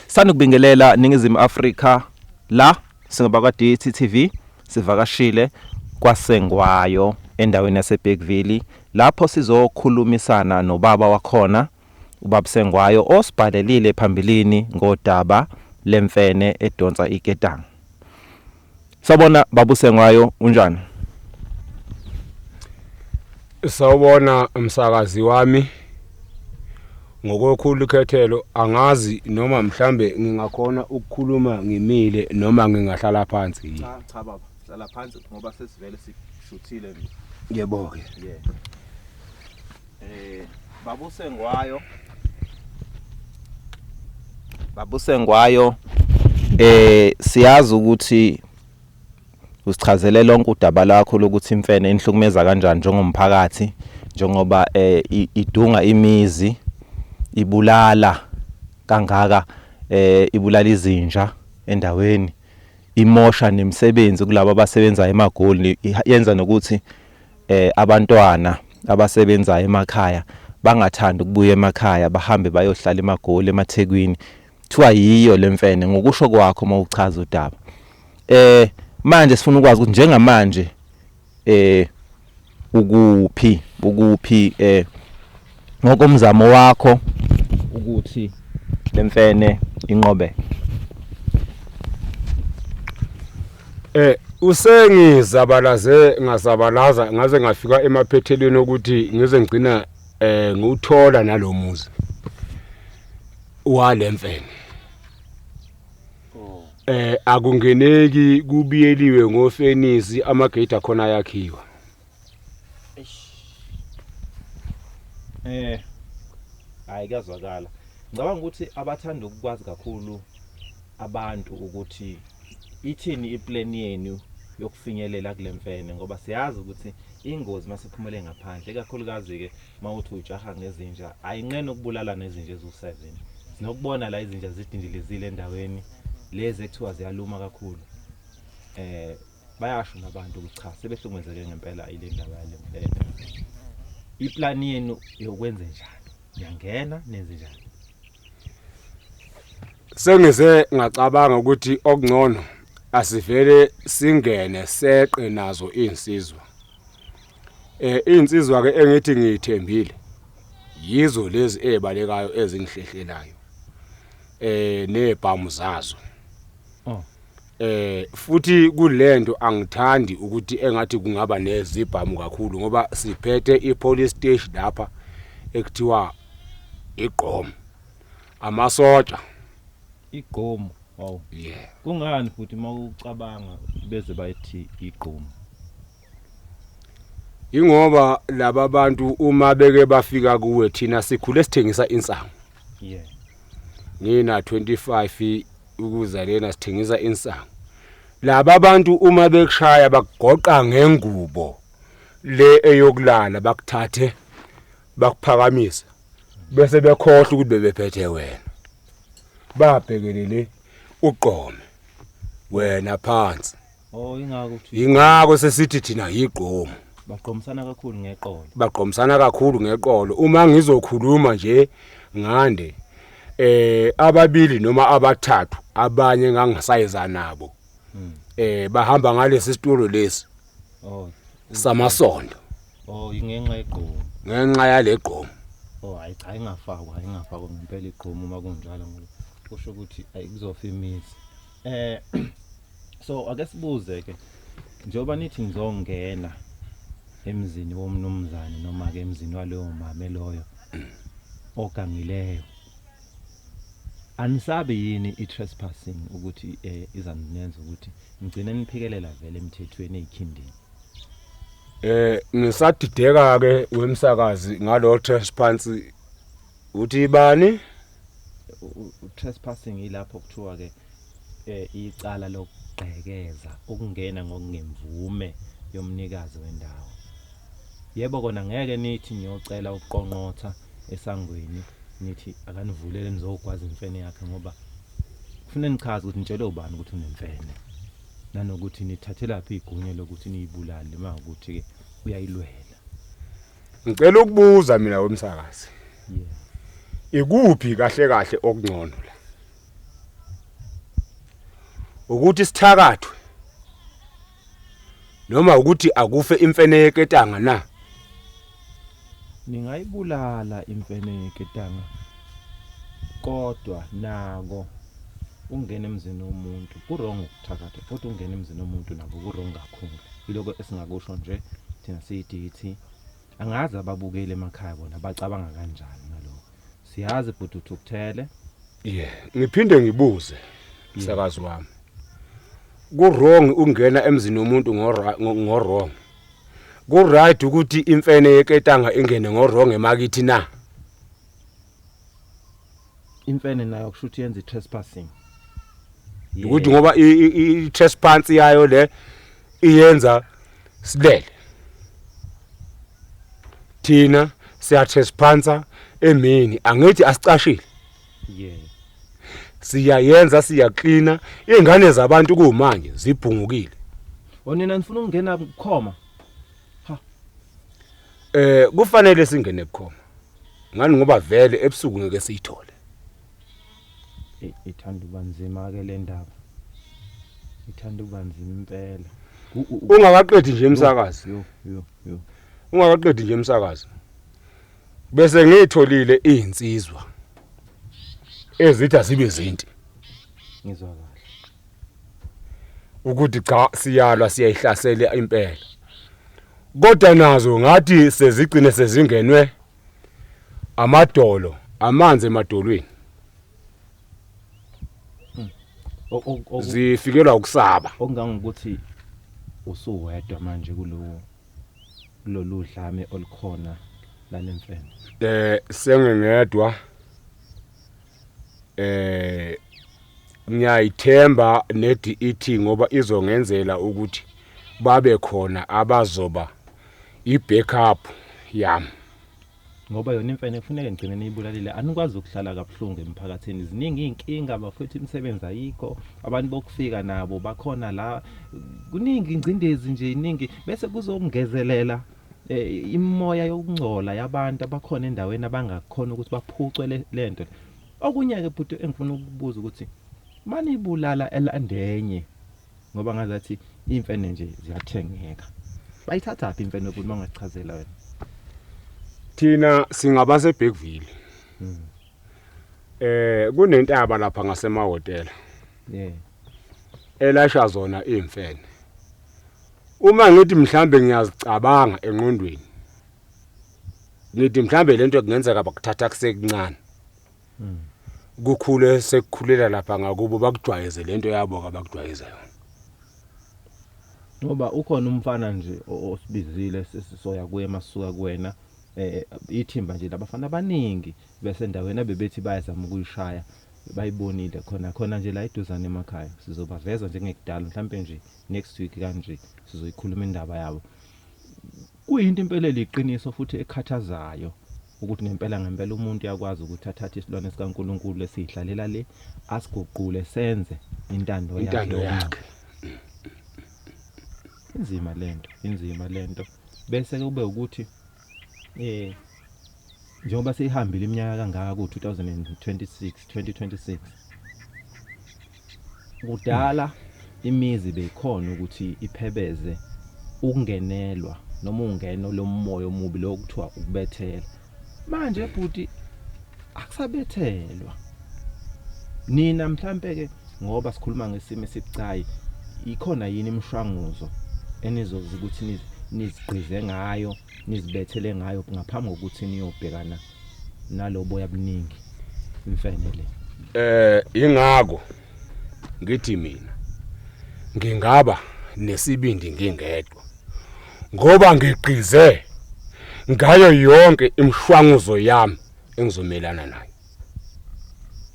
Sanukubingelela Ningizimu Afrika la singabakwa-DT TV sivakashile kwaSengwayo endaweni yaseBergville lapho sizokhulumisana nobaba wakhona ubaba Sengwayo osibhalelile phambilini ngodaba lemfene edonsa iketanga. Sawubona babuse ngayo unjani? Sawubona umsakazi wami. Ngokokhulu khethelo angazi noma mhlambe ngingakhona ukukhuluma ngimile noma ngingahlala phansi yini. Cha cha baba, hlala phansi ngoba sesivele sishuthile nje. Yebo ke. Yeah. Eh babusengwayo babusengwayo eh siyazi ukuthi usichazele lonke udaba lakho lokuthi imfene inhlukumeza kanjani njengomphakathi njengoba eh idunga imizi ibulala kangaka eh ibulala izinja endaweni imosha nemisebenzi kulabo abasebenza emagoli yenza nokuthi eh abantwana abasebenzayo emakhaya bangathanda ukubuya emakhaya bahambe bayohlala emagoli emathekwini kuthiwa yiyo lemfene ngokusho kwakho uma uchaza udaba eh manje sifuna ukwazi ukuthi njengamanje eh ukuphi ukuphi eh ngokomzamo wakho ukuthi le mfene inqobe eh usengizabalaze ngazabalaza ngaze ngafika emaphethelweni okuthi ngize ngigcina eh ngiwuthola nalomuzi walemfene oh. eh akungeneki kubiyeliwe ngofenisi amagate akhona yakhiwa Eh. Hayi kuyazwakala. Ngicabanga ukuthi abathanda ukukwazi kakhulu abantu ukuthi ithini iplan yenu yokufinyelela kule mfene ngoba siyazi ukuthi ingozi masiphumele ngaphandle ikakhulukazi ke mawuthi ujaha ngezinja ayinqena ukubulala nezinja ezu7 sinokubona la izinja zidindilizile endaweni lezi ekuthiwa ziyaluma kakhulu eh bayasho nabantu ukuthi cha sebehlukumezeke ngempela ile ndaba yale mfene iplani yenu yokwenze njani niyangena nenze njani sengize ngacabanga ukuthi okungcono asivele singene seqe nazo insizwa eh insizwa ke engithi ngiyithembile yizo lezi ezibalekayo ezingihlehlelayo eh nezibhamu zazo Eh futhi kulento angithandi ukuthi engathi kungaba nezibhamu kakhulu ngoba siphethe ipolice station lapha ekuthiwa igqom amasoja igqom wow yeah kungani futhi mawucabanga beze bayithi igqom Ingoba laba bantu uma beke bafika kuwe thina sikhule sithengisa insangu. Yeah. Ngina 25 ukuza lena sithengisa insangu. Laba bantu uma bekushaya bakugoqa ngengubo le eyokulala bakuthathe bakuphakamise bese bekhohle ukuthi bebephethe wena. Babhekelele uqome wena phansi. Oh ingako ukuthi Yingako sesithi thina yigqomo. bagqomisana kakhulu ngeqolo. Bagqomisana kakhulu ngeqolo. Uma ngizokhuluma nje ngande eh ababili noma abathathu abanye engangisayiza nabo. Eh bahamba ngalesi situlo lesi Oh samasondo oh ingenxa yegqomo. ngenxa yalegqomo. Oh hayi cha ingafakwa ingafakwa ngempela igqomo uma kunjalo ngoba kusho ukuthi ayikuzofa imizi. eh so ake sibuze ke njengoba nithi ngizongena emzini womnumzane noma ke emzini waleyo mame loyo ogangileyo anisabe yini i-trespassing ukuthi um eh, izaninenza ukuthi ngigcine niphikelela vele emthethweni eyikhindini um eh, ngisadideka-ke wemsakazi ngalo trespansy Uthi bani? Trespassing ilapho kuthiwa ke eh, icala lokugqekeza ukungena ngokungemvume yomnikazi wendawo. Yebo kona ngeke nithi niyocela ukuqonqotha esangweni nithi akanivulele nizogwaza imfene yakhe ngoba kufanele nichaze ukuthi nitshelwe ubani ukuthi unemfene nanokuthi nithathelaphi igunya lokuthi niyibulale uma ukuthi uyayilwela. Ngicela ukubuza mina wemsakazi. Ikuphi kahle kahle okungcono la? Ukuthi sithakathwe noma ukuthi akufe imfene yeketanga na? Ningayibulala imfene yeketanga Kodwa nako ungena emzini womuntu kurong ukuthakatha futhi ungena emzini womuntu nako kurong kakhulu iloko esingakusho nje thina siyidithi angazi ababukeli emakhaya bona bacabanga kanjani ngaloko siyazi bhuti uthukuthele yeah ngiphinde ngibuze msakazi wami kurong ungena emzini womuntu ngorong ku right ukuthi imfene yeketanga ingene ngorong emakithi na imfene nayo kusho ukuthi yenza i-trespassing ukuthi ngoba i-trespassing yayo le iyenza silele thina siyathesphansa emini angithi asicashile yeah siyayenza siyaklina ingane zabantu kumanje zibhungukile onina oh, nifuna ukungena kukhoma ha eh kufanele singene kukhoma ngani ngoba vele ebusuku ngeke siyithole ithanda uba nzima ke le ndaba ithanda uba nzima impela ungakaqedi nje umsakazi yo yo yo ungakaqedi nje umsakazo bese ngitholile izinsizwa ezithi azibe zinti ngizwa kahle ukuthi cha siyalwa siyayihlasela impela kodwa nazo ngathi sezigcine sezingenwe amadolo amanzi emadolweni zifikelwa ukusaba okungangokuthi usuwedwa manje kulowo kulolu dlame olukhona lalemfene eh sengengedwa eh ngiyayithemba neDET ngoba izongenzela ukuthi babe khona abazoba i-backup yami. ngoba yona imfene kufuneke ngigcine niyibulalile anikwazi ukuhlala kabuhlungu emphakathini ziningi iy'nkinga bafethu imisebenzi ayikho abantu bokufika nabo bakhona la kuningi ingcindezi nje iningi bese kuzongezelela Eh, imimoya yokungcola yabantu abakhona endaweni abangakhona ukuthi baphucwe le- le nto le. okunye-ke bhuti engifuna ukubuza ukuthi banibulala elandenye ngoba ngazathi iy'mfene nje ziyathengeka bayithathaphi imfene bhuti uma ungasichazela wena Thina singabase Bergville. Eh kunentaba lapha ngasemahotela. Yeah. Elasha zona imfene. Uma ngithi mhlambe ngiyazicabanga enqondweni. Ngithi mhlambe lento kungenzeka bakuthatha kusekuncane. Hmm. Kukhule sekukhulela lapha ngakubo bakujwayeze lento yabo kabakujwayeze yona. Ngoba ukhona umfana nje osibizile sesisoya kuye masuka kuwena eh ithimba nje labafana abaningi besendaweni abebethi bayazama ukuyishaya bayibonile khona khona nje la iduzane emakhaya sizobaveza njengekudala mhlampe nje next week kanje sizoyikhuluma indaba yabo kuyinto impela eliqiniso futhi ekhathazayo ukuthi ngempela ngempela umuntu yakwazi ukuthi athathe isilwane sikaNkuluNkulu lesihlalela le asiguqule senze intando yakhe intando yakhe inzima lento inzima lento bese kube ukuthi Eh njengoba seyihambile iminyaka kangaka ku 2026 2026 kudala imizi beyikhona ukuthi iphebeze ukungenelwa noma ungeno lomoya omubi lokuthiwa ukubethela manje bhuti akusabethelwa nina mhlampe ke ngoba sikhuluma ngesimo esibucayi ikhona yini imishwanguzo enizozi ukuthi nizigqize ngayo nizibethele ngayo ngaphambi kokuthi niyobhekana nalobo yabuningi imfene le eh ingako ngithi mina ngingaba nesibindi ngingedwa ngoba ngiqize ngayo yonke imshwanguzo yami engizomelana nayo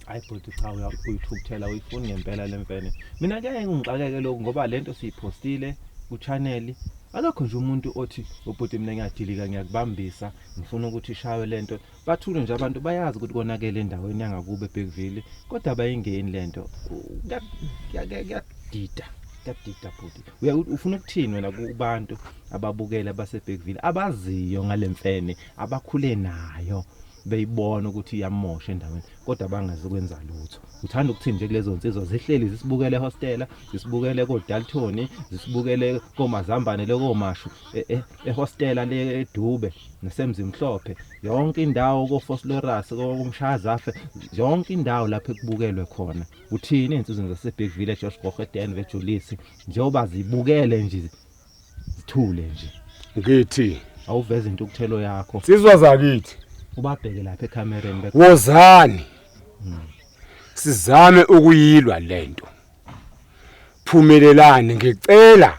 hayi bhuti cha uyithukuthela uyifuni ngempela le mfene mina kuyaye ngixakeke lokhu ngoba le nto siyiphostile ku-channel akekho nje umuntu othi ubhuti mina ngiyadilika ngiyakubambisa ngifuna ukuthi ishaywe le nto Bathule nje abantu bayazi ukuthi konakele endaweni yangakubo eBergville kodwa abayingeni lento. Kuyadida, kuyadida bhuti. Uya ufuna ukuthini wena kubantu ababukela baseBergville abaziyo ngalemfene abakhule nayo beyibona ukuthi iyamosha endaweni kodwa bangazi kwenza lutho uthanda ukuthini nje kulezo nsizwa zihleli zisibukele hostela zisibukele kodaltoni zisibukele komazambane lekomashu eh, eh, ehostela leDube nesemzimhlophe yonke indawo koFosloras koMshazafe yonke indawo lapho ekubukelwe khona uthini insizwe zaseBig Village Josh Gogedan veJulisi njengoba zibukele nje zithule nje ngithi awuveze into ukuthelo yakho sizwa zakithi ubabheke lapha ecamereni wozani hmm. sizame ukuyilwa lento phumelelani ngicela